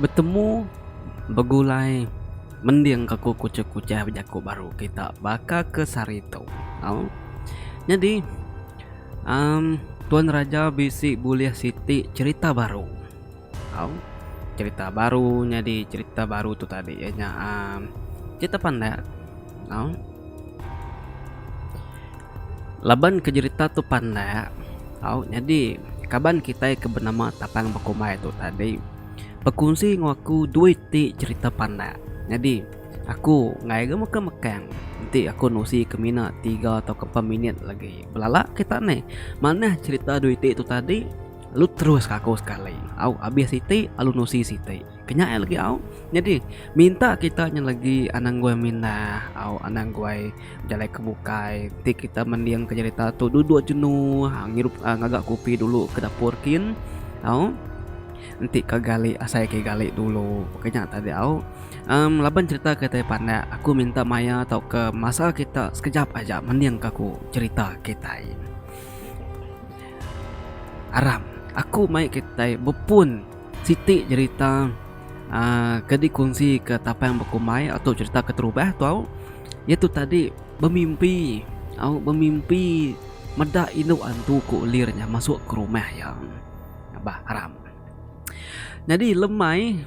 Betemu begulai mending ke ku kuchah kuchah bejaku baru kita baka ke sehari tu tau nyadi um tuan raja bisi bulih siti cherita baru. Au cerita baru nyadi cerita baru tu tadi ya nya um, cerita pandak. Au. Laban ke cerita tu pandak. Au nyadi kaban kita ke benama Tapang Bekumbai tu tadi bekunsi ngu aku dua iti cerita pandak. Nyadi aku ngai ga meka mekang enti aku nusi ke mina tiga atau ke empat minit lagi belala kita ni manah cerita dua iti tu tadi Lu terus ka aku sekali. Au abis siti alu nusi siti. Kenya ai legi au. Nyadi minta kita nya legi anang guai mindah au anang guai bejalai ke bukai ti kita mending ke jerita tu duduk jenu ha ngirup ngaga kopi dulu ke dapur kin au enti ke gali asai ke gali dulu. Ke nya tadi au um laban jerita ke tai pandak aku minta maya tauka masa kita sekejap aja mending ka ku jerita kitai. Aram. Aku mai kitai bepun siti jerita uh, ke dikunsi ke tapang bekumbai atau cerita keterubah tu au iaitu tadi bemimpi au bemimpi meda indu antu ku ulir nya masuk ke rumah iya bah aram nyadi lemai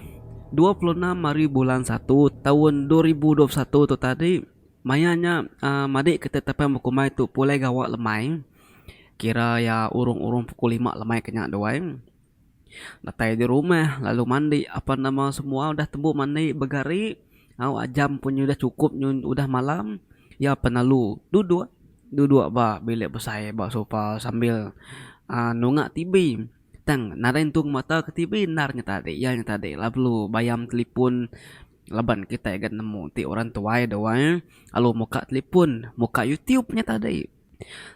dua puluh enam hari bulan satu taun dua ribu dua puluh satu tu tadi maya nya uh, madik kita tapang bekumbai tu pulai gawa lemai Kira iya urung urung pukul lima lemai ke nya tu ai datai di rumah lalu mandi apan nama semua udah tembu mandi begari au ajam pun udah chukup nyu udah malam iya pun lalu duduk duduk ba bilik besai ba sofa sambil aaa nunga TV tang nadai entung mata ke TV enda inya tadi iya nya tadi lalu bayam talipon laban kitai ga nemu ti orang tuai dau ai lalu muka talipon muka YouTube nya tadi.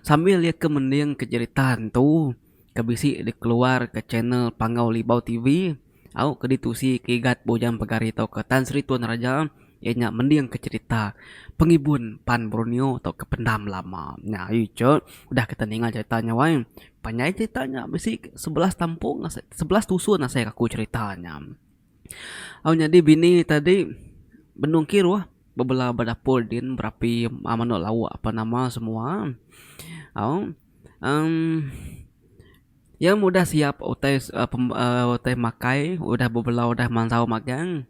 Sambil iya ke mending ke jerita entu ke bisi dikeluar ke channel Panggau Libau TV au ke ditusi Igat Bujang Pegari tauka Tan Sri Tuan Raja iya nya mending ke jerita pengibun pan Borneo tauka pendam lama. Nya ayu icha udah kita ninga jerita nya wai panjai jerita nya bisi sebelas tampung sebelas tusun asai aku jerita nya. Au nyadi bini tadi benung kiruh bebela ba dapur din berapi manok lauk apan nama semua au emm iya meh udah siap utai aaa utai makai udah bebela udah mansau magang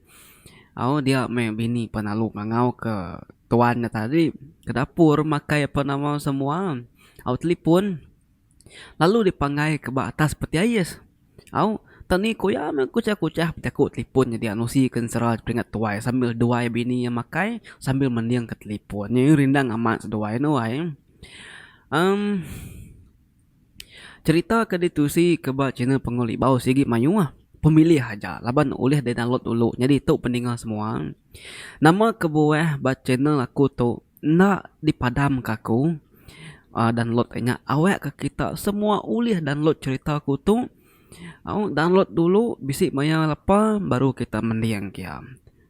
au dia meh bini pan lalu ngangau ke tuan ne tadi ke dapur makai apan nama semua au telepon. lalu dipanggai ke ba atas peti ais. Au, tang ni ku iya meh kuchah-kuchah bejaku telefon nyadi anak usi ke ensera peringat tuai sambil duai bini iya makai sambil mendingka telefon. Nyadi rindang amat seduai enu ai. Emm cherita ke ditusi ke ba channel Punggol Ibaw sigi mayuh. Pemilih aja laban ulih didownload dulu nyadi tu pendengar semua. Nama kebuah ba channel aku tu Enda dipadam ka aku download ka nya awak ka kita semua ulih download cerita aku tu download dulu bisi maya lepa baru kita mending kia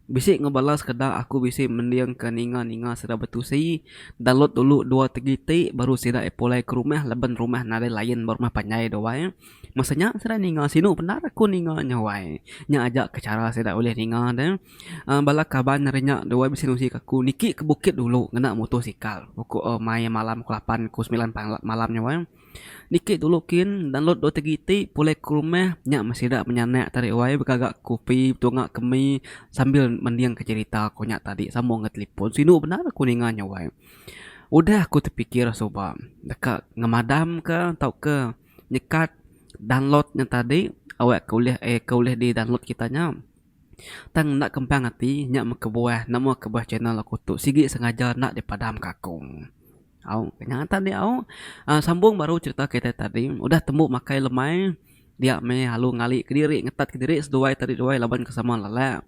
bisi enggau bala sekeda aku bisi mending ka ninga ninga sida betusi download dulu dua tegi ti baru sida pulai ke rumah laban rumah nadai line ba rumah panjai tu ai masa nya sida ninga sinu bendar aku ninga nya wai nya aja ke chara sida ulih ninga ne. Bala kaban ari nya dua bisi nusik aku niki ke bukit dulu ngena motosikal uku mai malam uku lapan uku semilan malam nya wang niki dulu kin download dua tigi ti pulih ke rumah nya meh sida penyanak tadi wai begaga kopi betunga ke mi sambil mending ke cherita ku nya tadi sambung ngan talipon sinu bendar aku ninga nya wai udah aku tepikir suba deka ngemadam ka tauka nyekat download nya tadi awe ke ulih di download kita nya. Tang enda kempang ati nya mekebuah nama kebuah channel aku tu sigi sengaja enda dipadam ka aku. Au nya ngagai tadi au a sambung baru cherita kitai tadi udah tembu makai lemai dia meh alu ngali kediri ngetat kediri seduai tadi duai laban ke sama lala.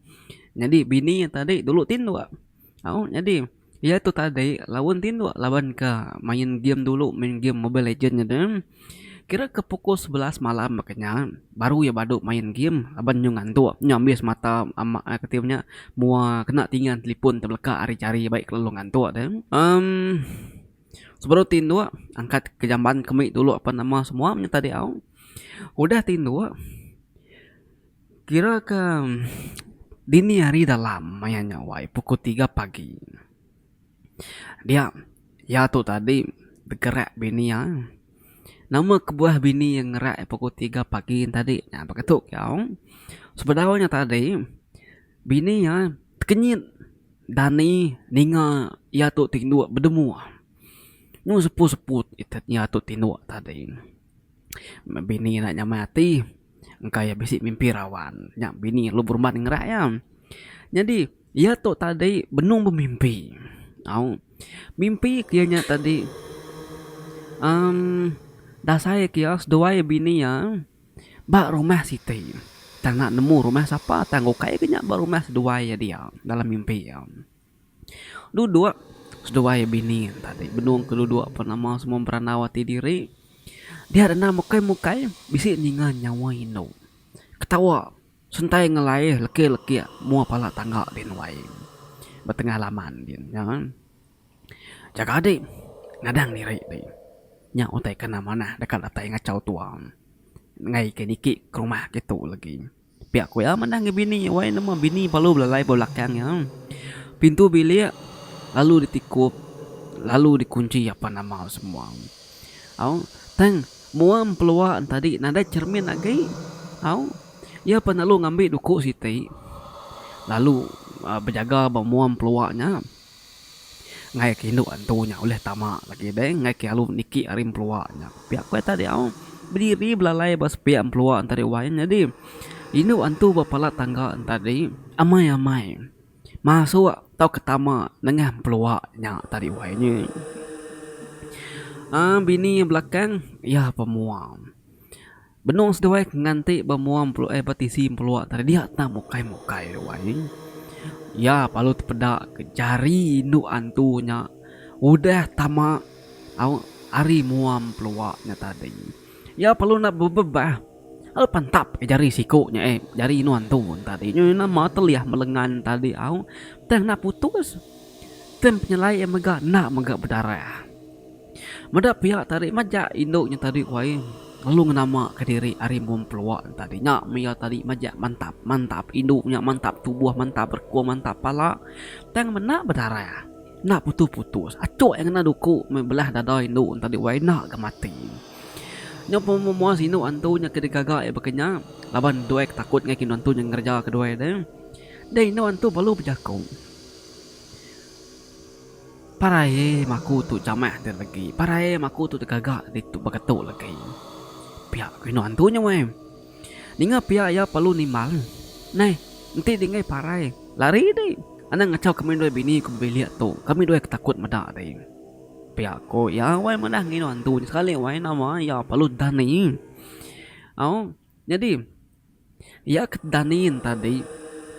Nyadi bini tadi dulu tinduk au nyadi. Iya tu tadi laun tinduk laban ke main game dulu main game mobile legend nya deh. Kira ke pukul sebelas malam baka nya baru iya badu main game laban nyu ngantuk nyu ambis mata ama ai kati inya nya mua kena tingan talipon te beleka ari jari bai kelalu ngantuk deh. Em sebedau tinduk angkat ke jamban ke mih dulu apan ama semua nya tadi au. Udah tinduk. Kira ke dini hari dalam maya nya wai pukul tiga pagi. Dia iya tu tadi begerak bini iya. Nama kebuah bini iya ngerak iya pukul tiga pagi tadi nya baka tu ke au. Sebedau nya tadi bini iya tekenyit dani ninga iya tu ti endur bedemua. Enu sepu-sepu iya tu ti endur tadi. Bini iya nya mai ati. engka iya bisi mimpi raban nya bini lu berumat ngera iya. Nyadi iya tu tadi benung bemimpi au mimpi ke iya nya tadi uhh dasai ke iya seduai bini iya ba rumah siti tang enda nemu rumah sapa tang ukai ke nya ba rumah seduai iya dia dalam mimpi iya. Duduk seduai bini tadi benung ke duduk pun nama semua berandau ati diri. Dia denda mukai mukai bisi ninga nyawa indu. Ketawa sentai ngelai leki leki mua pala tangga di nuai betengah laman din nya. Jaga adi nadang diri di nya utai ke enda manah deka datai ngachau tua ngai ke niki ke rumah ke tu legi. Pia ku iya manah ngi bini iya wai nama bini palu belalai ba belakang iya. Pintu bilik lalu ditikup lalu dikunchi apan nama semua. Au tang mua empelua entadi nadai cermin agi. Au iya pan lalu ngambi duku siti lalu bejaga ba mua empelua nya. Ngayak ke indu antu nya ulih tama lagi deh ngayak ke alu niki ari empelua nya. Pia ku enta diau bediri belalai ba sepiak empelua enta deh wai nyadi indu antu ba pala tangga enta deh amai amai masuk tauka tama nengah empelua nya tadi wai nya. Aaa bini belakang iya pemua. Benung seduai ke nganti ba mua mplua eh ba tisi mplua tadi dia tang mukai-mukai duai. Iya palu tepeda ke jari indu antu nya udah tama au ari mua mplua nya tadi. Iya palu enda bebebah lalu pantap ai jari siku nya eh jari indu antu nya tadi nya nama teliah ba lengan tadi au tang enda putus. Tang penyelai iya mega enda mega bedarah. Meda pia tadi majak indu nya tadi ku ai lalu ngenama ka diri ari mung pelua tadi nya meh iya tadi majak mantap mantap indu nya mantap tubuh mantap berkung mantap pala tang menda bedarah enda putus putus achok iya ngena duku meh belah dada indu tadi ku ai enda ga mati nya pun meh mua sinu antu nya ke digaga iya baka nya laban doi ke takut ngan indu antu nya ngereja ke doi deh deh indu antu perlu bejaku. Parai em aku tu jamah ti legi. Parai em aku tu tegaga ditu baka tu legi. Pia ku indu antu nya weh. Ninga pia iya perlu nimbal. Neh, enti dinggai parai, lari deh. Anang ngachau kami dua bini ku bebilik tu. Kami dua ke takut meda deh. Pia ku iya weh madah ngindu antu nya sekali weh nama iya perlu dani. Au, nyadi Iya ke danin tadi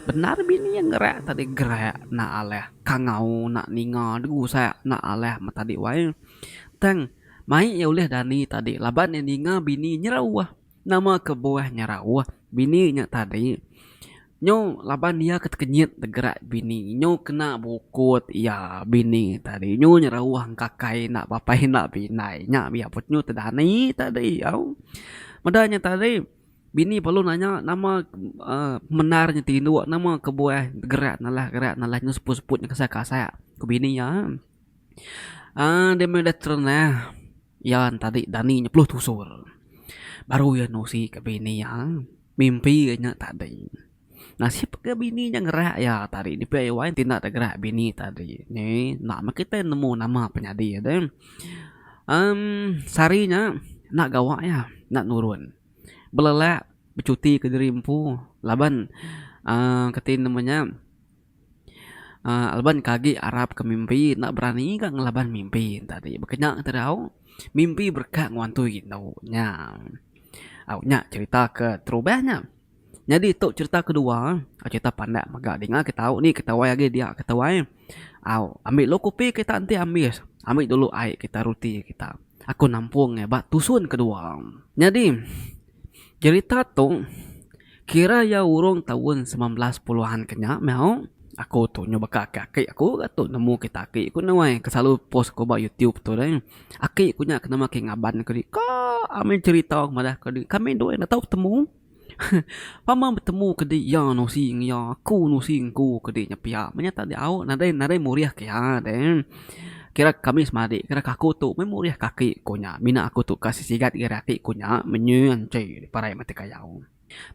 bendar bini iya ngerak tadi gerak enda alih kangau enda ninga degusak enda alih meh tadi wai tang mai iya ulih dani tadi laban iya ninga bini nyerauh nama kebuah nyerauh bini nya tadi nyu laban iya ke tekenyit gerak bini nyu kena bukut iya bini tadi nyu nyerauh engkakai enda bapai enda bindai nya iya pun nyu te dani tadi au meda nya tadi. Bini perlu nanya nama pemendar nya ti indu nama kebuah gerak nalah gerak nalah nyu seput seput nyu kasa kasa ku bini iya uhh dia meh udah terendah iya tadi dani nya peluh tusur baru iya nusi ka bini iya mimpi iya nya tadi. Nasib ke bini nya ngerak iya tadi ni pia wai ti enda deh gerak bini tadi ni enda meh kita nemu nama penyadi de emm sehari nya enda gawa iya enda nurun belelak becuti ke diri empu laban aaa kati nama nya aaa laban ke agi arap ke mimpi enda berani ka ngelaban mimpi tadi baka nya te tau mimpi bereka ngewantu indu nya au nya cerita ke terubah nya. Nyadi tu cerita kedua eh. Cerita pandak mega dinga ke tau ni ketuai agi dia ketuai. Au ambi dulu kopi kita enti ambis. Ambi dulu ai kita roti kita. Aku nampung iya ba tusun kedua. Nyadi cerita tu kira iya urung taun semilan belas puluhan ke nya meh au. Aku tu nyau baka ke aki aku ga tu nemu kita aki ku nuai ke selalu post ku ba youtube tu deh. Aki ku nya ke nama ke Ngaban ke dika ami cerita madah ke dika kami dua enda tau betemu. Pama betemu ke di iya nusi nge iya aku nusi nge ku ke di nya pia menyata di au nadai nadai murih ke iya de. Kira kami semadi kira ke aku tu meh murih ke aki ku nya mina aku tu ka sisigat ngira aki ku nya menyi anchi parai mati kayau.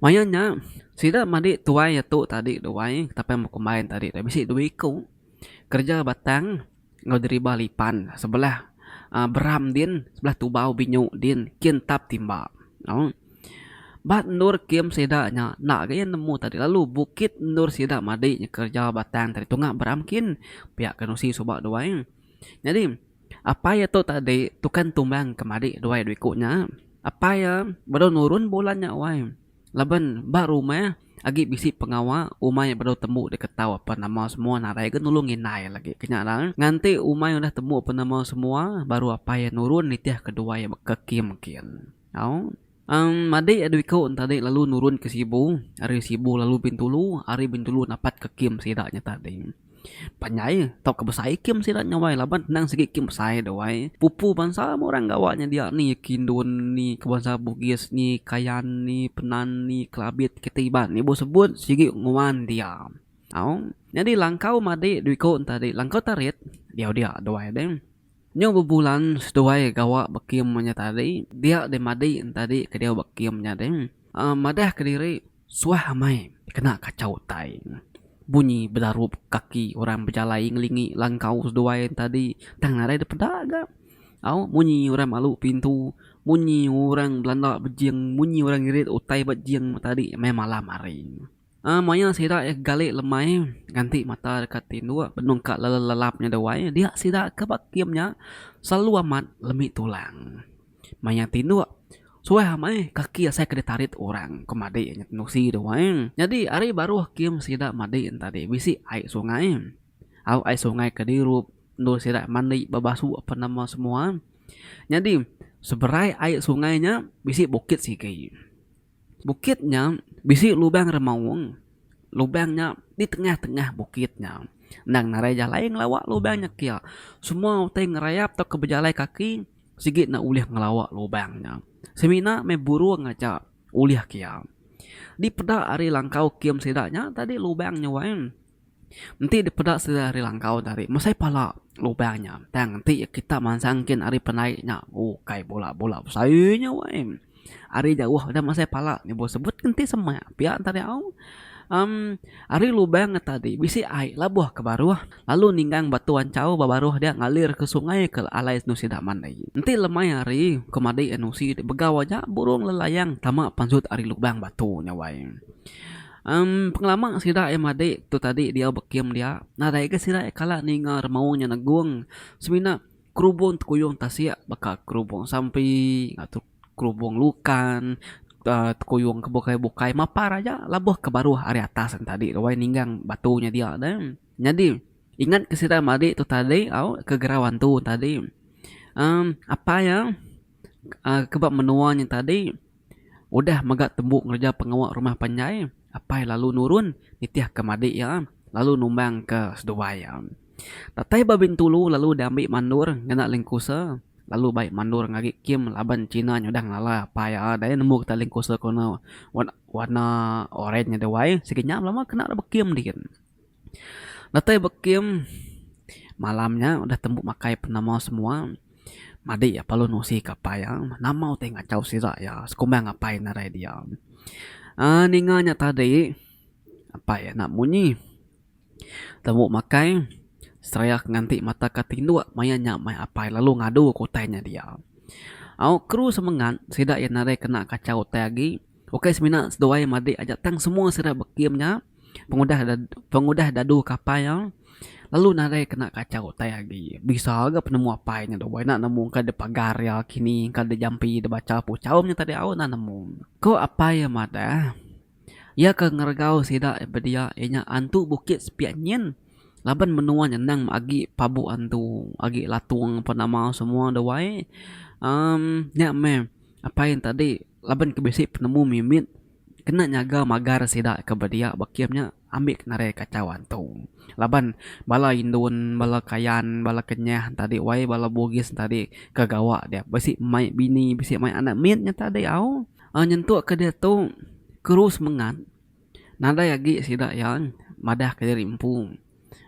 Maya nya sida madi tuai atu tadi duai tapi meh kumbai tadi bisi dua iku kereja batang. Enggau deriba lipan sebelah beram din sebelah tubau binyu din kin entap timba. Au. Ba endur kem sida nya enda ga iya nemu tadi lalu bukit endur sida madi nya kereja batang tadi tunga beram kin pia ke nusi suba dua ai. Nyadi apai iya tu tadi tukan tumbang ke madi dua ai dua iku nya. Apai iya baru nurun bulan nya wai. Laban ba rumah agi bisi pengawa umai bedau tembu deka tau apan nama semua nadai ga nulung indai lagi ke nya rang nganti umai udah tembu apan nama semua baru apai iya nurun nitih ke dua iya baka Kim kin au em madik iya dua iko enta dik lalu nurun ke Sibu ari Sibu lalu Bintulu ari Bintulu napat ke Kim sida nya tadi. Panjai tauka besai ikem sida nya wai laban endang sigi ikem besai dau ai. Pupu bansa meh orang gawa nya dia ni Kindon ni ke bansa Bugis ni Kayan ni Penan ni Kelabit kitai Iban ni bauh sebut sigi nguan dia. Au. Nyadi langkau madek dui ko enta dei langkau tarit diau dia dau ai deh. Nyu bebulan seduai gawa bekim nya tadi dia deh madi entadi ke diau bekim nya deh madah ke diri suah amai kena kachau utai bunyi belarup kaki orang bejalai ngelingi langkau seduai entadi tang nadai deh peda ga au munyi orang malu pintu munyi orang belanda bejing munyi orang ngirit utai ba jing tadi meh malam hari. Aa maya sida iya gali lemai nganti mata deka tinduk benung ka lelelap nya dewai dia sida ke ba kem nya selalu amat lemi tulang. Maya tinduk suah meh kaki asai ke ditarit orang ke madi nya tenusi dewai. Nyadi ari baruh kem sida madi nya tadi bisi ai sungai. Au ai sungai ke dirup endur sida mandi bebasu apan nama semua. Nyadi seberai ai sungai nya bisi bukit sigi. Bukit nya bisi lubang remaung. Lubang nya di tengah-tengah bukit nya. Endang narai jalai ngelawa lubang nya kia. Semua utai ngerayap tauka bejalai kaki sigi ne ulih ngelawa lubang nya. Semina meh burung aja ulih kia. Dipeda ari langkau kem sida nya tadi lubang nya wai. Enti dipeda sida ari langkau tadi mesai pala lubang nya tang enti kita mansang kin ari penai nya ukai bola-bola besai nya weh ari jauh udah mesai pala nyebut sebut ke enti semak pia enta ari au em ari lubang nya tadi bisi ai labuh ke baruh lalu ninggang batu anchau ba baruh dia ngalir ke sungai ke alai endur sida mandi enti lemai hari ke madi endur sida begau aja burung lelayang tama pansut ari lubang batu nya weh. Em pengelama sida iya madik tu tadi diau bekim dia nadai ga sida iya kala ninga remaung nya negung semina kerubong tekuyung tasik baka kerubong sampi ngatur kerubong lukan uhh tekuyung ke bukai bukai mapar aja labuh ke baruh ari atas nya tadi wai ninggang batu nya dia ne nyadi ingat ke sida madik tu tadi au ke gerau antu tadi em apai iya ke ba menua nya tadi. Udah mega tembu ngereja pengawa rumah panjai, apai lalu nurun nitihka madik iya lalu numbangka seduai iya. Datai ba Bintulu lalu diambi Mandor ngena Lengkusa lalu bai Mandor ngagi kem laban China nyudah ngelala apai iya dai nemu kita Lengkusa warna oren nya duai sigi nya belama kena bala bekem digit. Datai ba kem malam nya udah tembu makai penemu semua madi iya perlu nusi kapal iya nama utai ngachau sida iya sekumba ngapai ngarai dia aaa ninga nya tadi apai iya enda munyi tembu makai seraya ke nganti mata ke tinduk maya nya meh apai lalu ngadu ke utai nya dia au kru semengat sida iya nadai kena kachau utai agi ukai semina seduai madi aja tang semua sida ba kem nya. pengudah pengudah dadu ke apai iya lalu nadai kena kachau utai agi bisa ga penemu apai nya dua ina nemu ka da pagar iya kini ka da jampi da bacha ku chaum nya tadi au ina nemu. Ku apai iya madah iya ke ngeregau sida bedia inya antu bukit sepiak nyin laban menua nya endang agi pabu antu agi latung apan nama semua da wai uhh nya meh apai iya tadi laban ke bisi penemu mimit. kena nyaga magar sida ke bedia ba kem nya ambi ke nadai kachau antu laban bala indun bala kayan bala kenyah enta adi wai bala bugis enta adi ke gawa dia bisi mai bini bisi mai anak mit nyata adi au nyentuk ke diatu keru semengat nadai agi sida yang madah ke diri empu.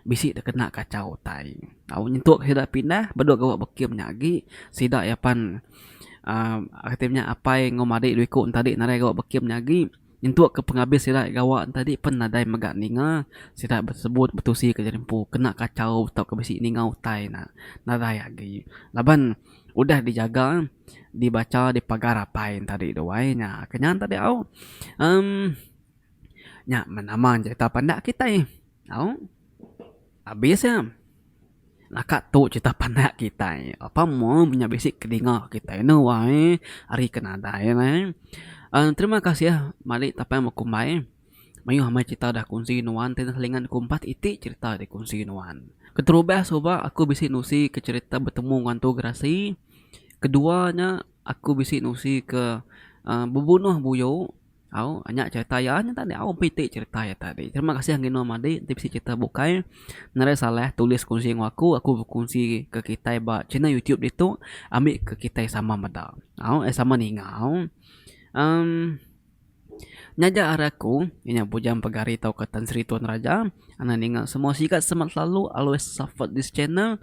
bisi tekena kachau utai. Au nyentuk sida pindah bedok gawa bekim nya agi sida iya pan uhh kati inya apai enggau madik dua iku ntadi nadai gawa bekim nya agi nyentuk ke pengabis sida gawa ntadi pen nadai mega ninga sida besebut betusi ke jadi empu kena kachau tauka bisi ninga utai ne nadai agi laban udah dijaga dibacha dipagar apai ntadi duai nya ke nya ntadi au emm. Nya menama cerita pandak kitai au abis iya naka tu cerita pandak kitai apai mung inya bisi kedinga kitai anu wai ari ke nadai wai terima kasih mali tapai bekumbai mayuh meh cerita dah kongsi nuan tinen selingan ku empat iti cerita ri kongsi nuan keterubah suba aku bisi nusi ke cerita betemu ngan tu gerasi kedua nya aku bisi nusi ke bebunuh buyo Au nya cerita iya nya tadi au pun iti cerita iya tadi. Terima kasih Gino Madi enti bisi cerita bukai nadai salah tulis kongsi enggau aku aku bkongsi ke kitai ba channel YouTube ditu ambi ke kitai sama meda au eh sama ninga au. Em nyaja ari aku inya Bujang Pegari tauka Tan Sri Tuan Raja enda ninga semua sigat semak selalu always support this channel.